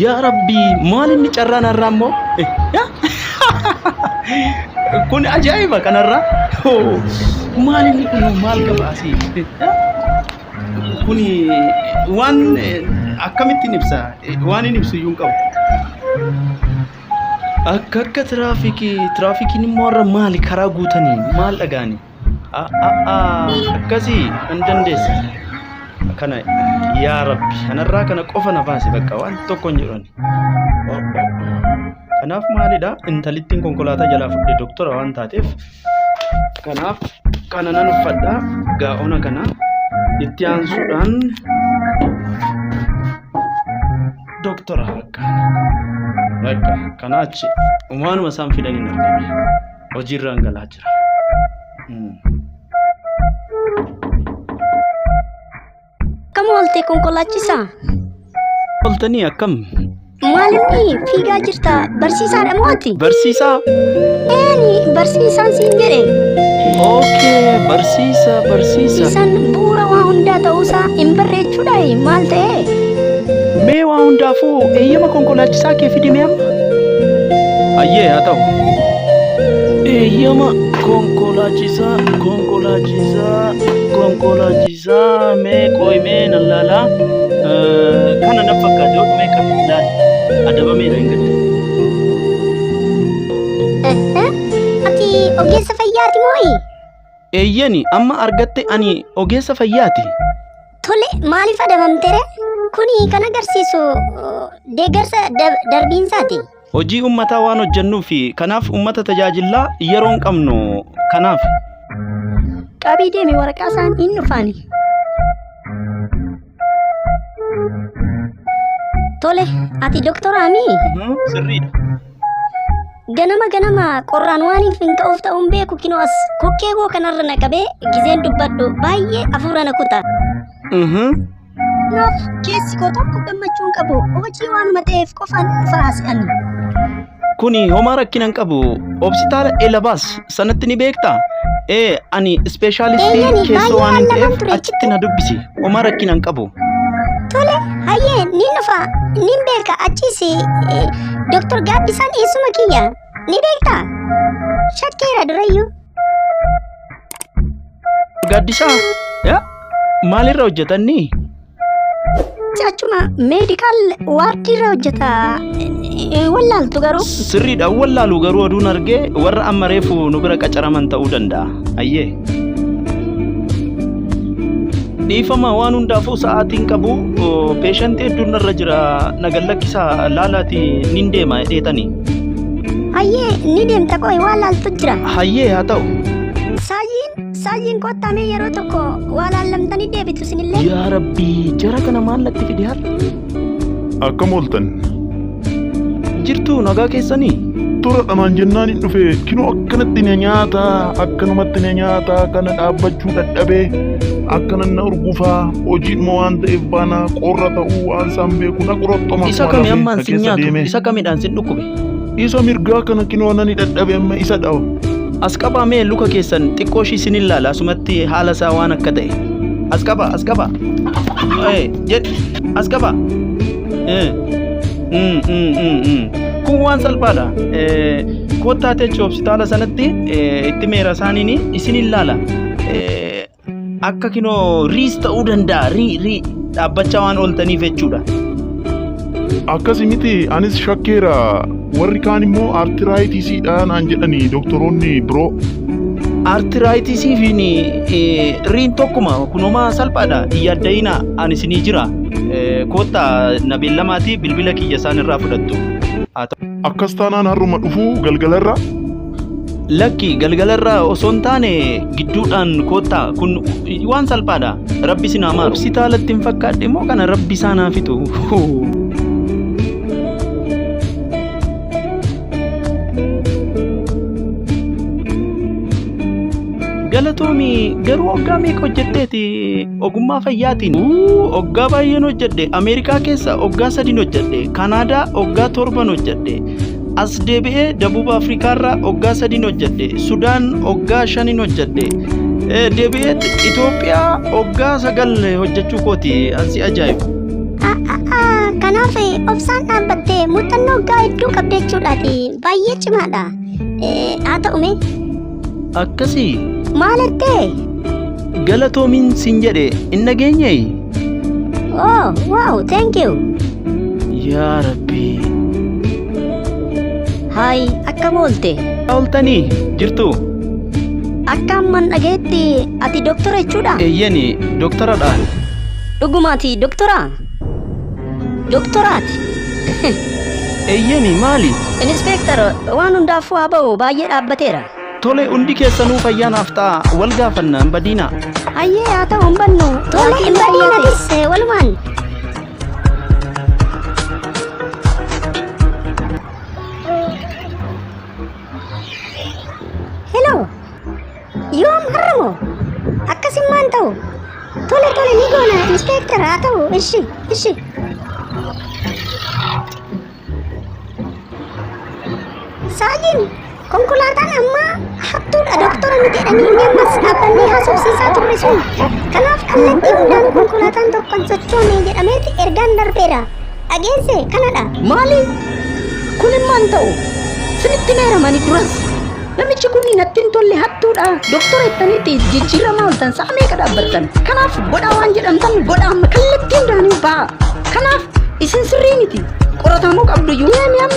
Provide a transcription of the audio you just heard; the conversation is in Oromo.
Yaa rabbii maal inni carraa narraa immoo kun ajaa'iba kanarraa maal inni kun maal gabaasi kun waan akkamittiin ibsa waan hin ibsu iyyuu hin qabu. Akka akka tiraafikii tiraafikiin immoo irra maali karaa guutanii maal dhagaanii. akkasii hin dandeessu kana yaa rabbi kanarraa kana qofa na baase bakka waan tokko hin jedhani kanaaf maalidha intalittiin konkolaataa jalaa fudhe doktora waan taateef kanaaf kana nan uffadha gaa'ona kana itti aansuudhaan doktora bakka bakka kanaa achi umaanuma isaan fidaniin argame. hojiirraan galaa jira. Akkam oolte konkolaachisaa? Oltanii akkam? Maalinni fiigaa jirta barsiisaadha mooti? Barsiisaa? Eeni barsiisaan siin jedhe. Ookee barsiisa barsiisa. Isaan bu'uura waa hundaa ta'uusaa hin barreechuudhaayi maal ta'ee? Mee waa hundaafuu eeyyama konkolaachisaa kee fidimee amma? Hayyee haa ta'u. Eeyyama konkolaachisaa konkolaachisaa konkolaachisaa mee qoy mee nan laala. Eh, Kana na fakkaate yoo dhumee kan ilaali. Adabameera hin gadda. Ati ogeessa fayyaati moo'i? Eeyyani amma argatte ani ogeessa fayyaati. Tole maaliif adabamtere? Kuni kan agarsiisu uh, deeggarsa dab- darbiinsaati. Hojii ummataa waan hojjennuuf kanaaf ummata tajaajillaa yeroo hin qabnu kanaaf. Qabii deemi waraqaa isaan hin dhufaani. Tole ati doktoraami? Sirriidha. Ganama ganama qorraan waan hin finqa'uuf ta'uun beeku kinoo as kokkee koo kanarra na qabee gizeen dubbadhu baay'ee afuura na kuta. Kanaaf keessi koo tokko gammachuu hin qabu hojii waanuma ta'eef qofaan dhufa haasa'ani. Kuni homaa rakkina hin qabu. Obsitaala Elabaas sanatti ni beektaa? Ee, ani ispeeshaalistii Eeyyani, baay'ee keessoo waan hin lallaban ta'eef ture. achitti na dubbisi. Homaa rakkina hin qabu. Tole, hayyee, ni dhufa, ni beeka, achiis eh, Dr. Gaaddisaan eessuma kiyya, ni beekta? Shakkeera durayyuu. Gaaddisaa, yaa, maalirra hojjetanni? Achuma meedikaal waardiirra hojjeta. Wallaaltu garuu. Sirriidha wallaalu garuu oduun argee warra amma reefu nu bira qacaraman ta'uu danda'a. Ayyee. Dhiifama waan hundaafuu sa'aatiin qabu peeshantii hedduun irra jira nagan lakkisaa laalaati nin deema dheetanii. Hayyee ni deemta qoy wallaaltu jira. Hayyee haa ta'u. Saayyiin Saayyiin kottaa mee yeroo tokko waa laallamtanii deebitu isinillee. Yaa Rabbi, jara kana maal natti fide har'a? Akkam ooltan? Jirtuu nagaa keessanii? Tura dhamaan jennaan hin dhufe kinoo akkanatti na nyaata akkanumatti na nyaata kana dhaabbachuu dadhabee akkanan na urgufaa hojiidhuma waan ta'eef baana qorra ta'uu waan isaan beeku na qorottoma. Isa kami ammaan si nyaatu? Isa kamidhaan si dhukkube? Isa mirgaa kana kinoo nani dadhabe amma isa dhawa. As qabaa mee luka keessan xiqqoo ishii sin ilaala asumatti haala isaa waan akka ta'e. As qabaa as qabaa. Ee jedhi as qabaa. Ee. Mm, mm, mm, mm. Kun waan salphaadha. Ee, Kottaa teechi hospitaala sanatti ee, itti meera isaaniin isin ilaala. Ee, Akka kinoo riis ta'uu danda'a. Rii rii dhaabbachaa waan ooltaniif jechuudha. Akkasi miti anis shakkeera warri kaan immoo artiraayitiisiidha naan jedhani doktoroonni biroo. Artiraayitisii fi riin tokkuma kunuma salphaadha hin yaadda'ina ani isinii jira. Eh, Koottaa na beellamaatii bilbila kiyya isaan irraa fudhattu. Haa ta'u. Akkas taanaan har'uma dhufuu galgalarra Lakki galgalarra osoo hin taane gidduudhaan koottaa kun waan salphaadha. Rabbi isin haa maaru. Hospitaalatti hin fakkaadhe immoo kana rabbi isaan haa fixu. Galatoomi garuu waggaa meeqa hojjetteeti ogummaa fayyaatiin? Uu, Waggaa baay'een hojjedhe. Ameerikaa keessa waggaa sadiin hojjedhe. Kanaadaa waggaa torban hojjedhe. As deebi'ee Dabuub Afrikaarra oggaa sadiin hojjedhe. Sudaan oggaa shaniin hojjedhe. Eh, Deebi'ee Itoophiyaa oggaa sagal hojjechuu kooti ansi ajaa'ibu. Kanaaf obsaan dhaabbattee muuxannoo waggaa hedduu qabda jechuudhaati. Baay'ee cimaadha. Haa ta'u mee Akkasii? Maal artee? Galatoomiin sin jedhe hin dhageenyee? Oh, wow, thank you. Yaa Rabbii. Haay, akkam oolte? Ooltanii jirtu? Akka amman dhageetti ati doktora jechuudha? Eeyyani, doktoradha. Dhugumaati doktora? Doktoraati. Eeyyeni maali? Inispeektar waan hundaafuu haa ba'u baay'ee dhaabbateera. Tole hundi keessanuu fayyaa naaf ta'a wal gaafanna hin badiina. Hayyee haa ta'u hin bannu. Tole hin badiinatis walumaan. Hello. Yoom har'a moo? Akkasimmaan ta'u. Tole tole ni goona inspektar haa ta'u ishi ishi. Saajin konkolaataan ammaa hattuudha doktora miti jedhanii inni ammas dhaabbannee haasofsiisaa turre sun. Kanaaf kallattii hundaan konkolaataan tokkon sochoone jedhameeti ergaan darbeera. Dhageesse kanadha. Maali? Kun immoo hin ta'u. Sinitti meeramani duras. Namichi kun natti hin tolle hattuudha. Doktora jettanitti jijjiiramaa oltan sa'a meeqa dhaabbattan. Kanaaf godhaa waan jedhamtan godhaa amma kallattiin daanii ba'a. Kanaaf isin sirrii miti. Qoratamuu qabdu iyyuu. Mee amma